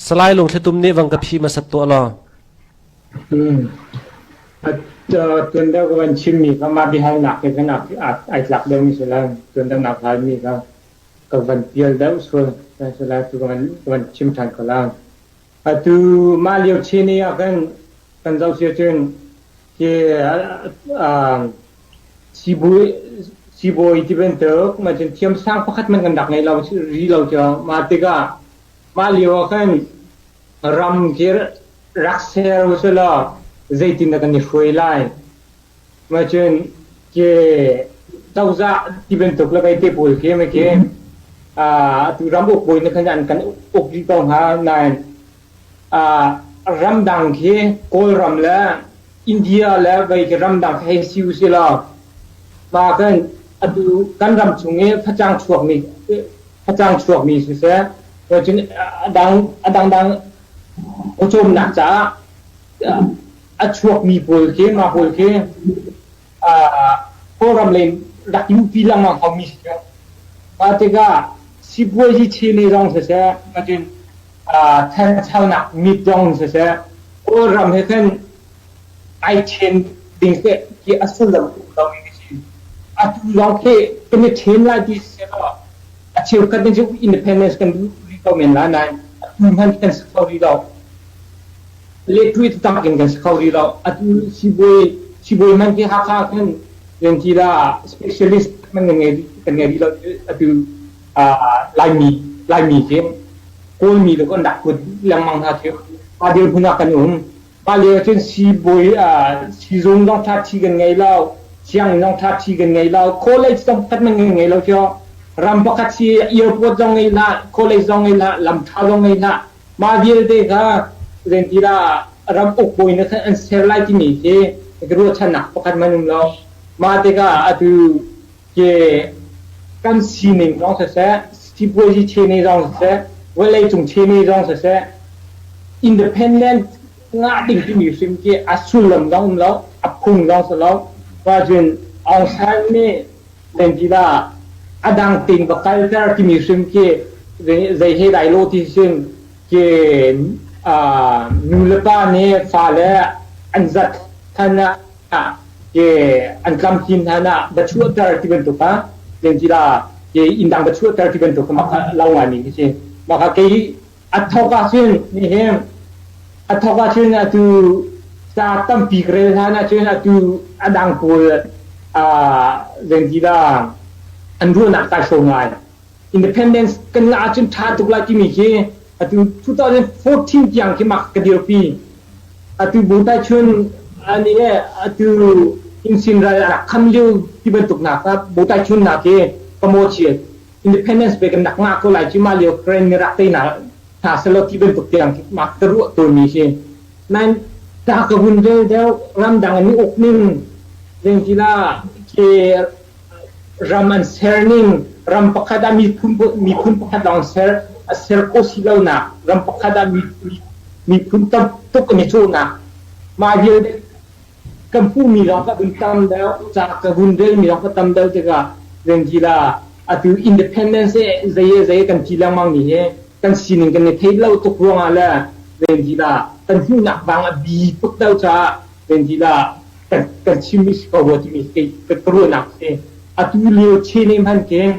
Salai Lung Thli Tum nih vang ka phi hmasat tuah law. Tuandak van chimmi ka mah bihai nak ke kan ai tlak deuh mi sulan tuandak nak hal mi ka ka van pial deuh sul sulan tu kan van chim than ko lang. Atu mah liu chi ni kan kan zau si cun Sibawi tibantuk thiamsang pakhat hmanh kan rak ngei lo rih lo cu. Mah tikah mah lio ah khan ram khi rak ser usih law zeitindah kan i hruai lai. Mah cun ke cozah tibantuk le beite pawl khi atu ram uk bawi khan an kan uk rih ko hna. Nain ramdang khi Kawlram le India le vei khi ramdang hei si usihlaw hma kan atu kan ram chung i facang chuakmi facang chuakmi siseh cun a dang a dangdang pawcawmnak caah a chuakmi pawl khi mah pawl khi Kawlram lei rak lupi lengmang haumi si cu. Mah tikah sipuazi chile zong siseh, nakin thanchonak mit zong siseh, Kawlram he khan ai ṭhen ding teh ti a sullam tuk lomi ka si. Atu zong khi kan i ṭhen lai ti siseh law, a cheukhat nih cu independence kan duh rih ko men lai nain atu hmanh kan si kho rih lo. Lettwith tang in kan si kho rih lo. Atu siibawi siibawi man hi Hakha ah khin Yanchila specialist man kan ngei kan ngei rih lo. Atu Laimi Laimi khi Kawlmi le kan rak put lengmang hna khi a dirhmun ah kan um. Mah lio cun siibawi siizung zong ṭhaṭhi kan ngei lo, sianginn zong ṭhaṭhi kan ngei lo, college zong pakhat man kan ngei lo cio. Ram pakhat si airport zong ngei hlah, college zong ngei hlah, lamṭha zong ngei hlah, Mah vialte kha zeitindah ram ukbawi na an ser lai timi khi ka ruahchannak pakhat man um lo. Mah tikah atu ke kan sining zong siseh, sipuazi chene zong siseh, vawleicung chene zong siseh, independent ngah ding timi hrim khi a sullam zong um lo, a phung zong si lo. Fa Cun Aung San nih Pengkila a dang ting va kalter timi hrim khi zei he lai lo ti sin ke nu le pa nih fale an zat than ah ke an tlamkin than ah va chuahter ti bantuk ah pengkila ke inn dang va chuahter ti bantuk mak lau ngai mi khi si. Maka kei A thawk ah cun nihin a thawk ah cun atu sa tampi ka rel hlan ah cun atu a dang pawl zengzidang an ruahnak kai hrawm lai independence kan ngah ahcun ṭha tuk lai timi khi atu 2014 tiang khi mak ka dirpi atu bu tai chun ani he atu insin ral a rak kham liu ti bantuk nak bu tai chun nak hi ka mo chiat Independence pe kan rak ngah ko lai cu mah lio Ukraine mi rak teinak hna selaw ti bantuk tiang mah ka ruah tu mi hi nain ta ka hun vel deu ramdang an uk ning vengtila ke ram an ser ning ram pakhat a miphun miphun pakhat lawng ser a ser ko si lo na ram pakhat a miphun tam tuk an i chu na ma vial Kan puhmi ram ka vun tam deuh, ca ka vun relmi ram ka tam deuh tikah Vengzila atu independence hi zei le zei kan thi lengmang mi hi kan sining kan i theih lo tuk ruangah le Vengzila kan hmuhnak vang a bi tuk deuh caah Vengzila kan kan chim mi si ko rua timi ka ka ruahnak a si. Atu lio Chinee hmanh khi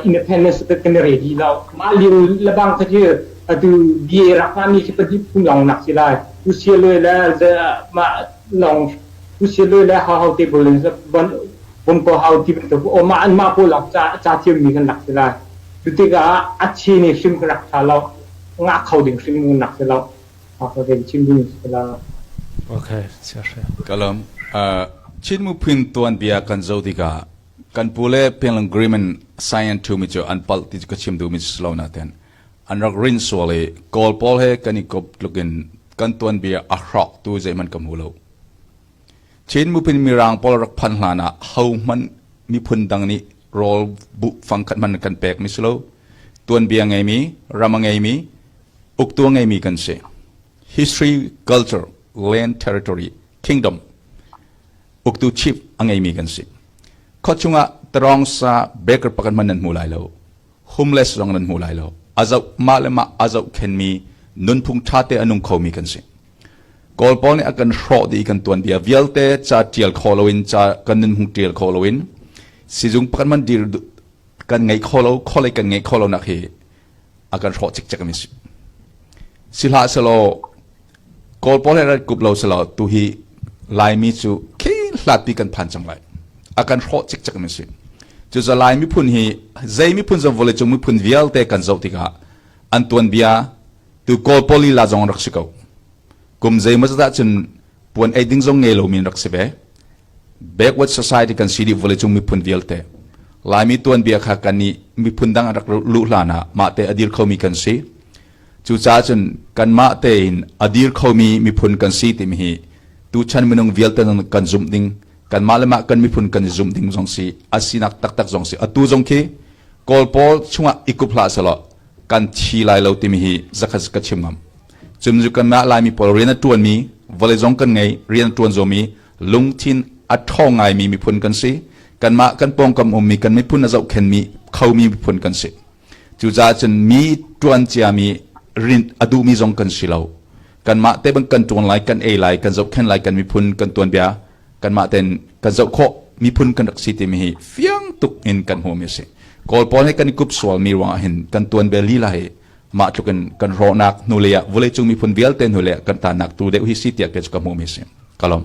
independence cu kan i re dih lo. Mah lio lebang kha cu atu BA rak hmami khi pahnih phun lawng nak si lai. UCLA le mah lawng UCLA le Hao te pawl in Bungko Hao ti bantuk mah an mah pawl lawng ca ca thiammi kan lak si lai. Cu tikah a Chinee hrim kan rak tha lo. Ngah kho ding hrim kan rak si lo. Kalam Chin miphun tuanbia kan zoh tikah kan pu le peng Green in Science ṭhumi cu an palh ti cu ka chim duhmi si lo nain an rak rin sual i Kawl pawl he kan i kop tluk in kan tuanbia a hrawktu zeihmanh ka hmu lo. Chin miphun mirang pawl rak phanh hlanah hohmanh miphun dang nih rawl bu fang khat man kan pek mi si lo tuanbia ngeimi ram ngeimi uktu ngeimi kan si history culture land territory kingdom uktu chief a ngeimi kan si khot chungah tarong sa baker pakan man nan mu lai lo homeless zong nan hmu lai lo a zoh mah le mah a zohkhenmi nunphung ṭhate a nung khomi kan si kawl pawl nih a kan hrawh dih kan tuan bia vialte ca ṭial kho loin ca kan nun hung ṭial kho loin sizung pakhat man dir kan ngei kho lo kholei kan ngei kho lo nak hi a kan hrawh cikcek mi si si hlah selaw Kawl pawl he rat kup lo selaw tuhi Laimi cu hlatpi kan phan cang lai. A kan hrawh cikcek mi si. Cucu Lai miphun hi zei miphun zong vole cung miphun vialte kan zoh tikah an tuan bia tu Kawl pawl lila zong rak si ko. Kum zeimaw zat cun puan ei ding zong ngei lo min rak si ve. Backward society kan si dih vole cung miphun vialte. Laimi tuan bia kha kan nih miphun dang rak luh hlan ah mah te adir khomi kan si. Cucaah cun kanmah tein a dir khomi miphun kan si timi hi tuchan minung vialte kan zumh ding kanmah le mah kan miphun kan zumh ding zong si a sinak taktak zong si atu zong khi kawl pawl chungah i kup hlah selaw kan thi lai lo timi hi zakhat ka chim ngam cun cu kanmah laimi pawl rian a ṭuanmi vawlei zong kan ngei rian a ṭuan zomi lungthin a ṭhawng ngaimi miphun kan si kanmah kan pawngkam ummi kan miphun a zohkhenmi khomi miphun kan si Cucaah cun mi ṭuan ciami rinh a duhmi zong kan si lo. Kanmah te bang kan ṭuan lai, kan ei lai, kan zohkhenh lai, kan miphun kan tuanbia kanmah tein kan zoh khawh miphun kan rak si timi hi fiang tuk in kan hmuhmi a si. Kawl pawl nih kan i kup sualmi ruangah hin kan tuanbia lila hi mah tluk in kan rawhnak hnulei ah vawleicung miphun vialte hnulei ah kan tanak tu deuh hi si tiah kei cu ka hmuhmi a si. Ka lawm.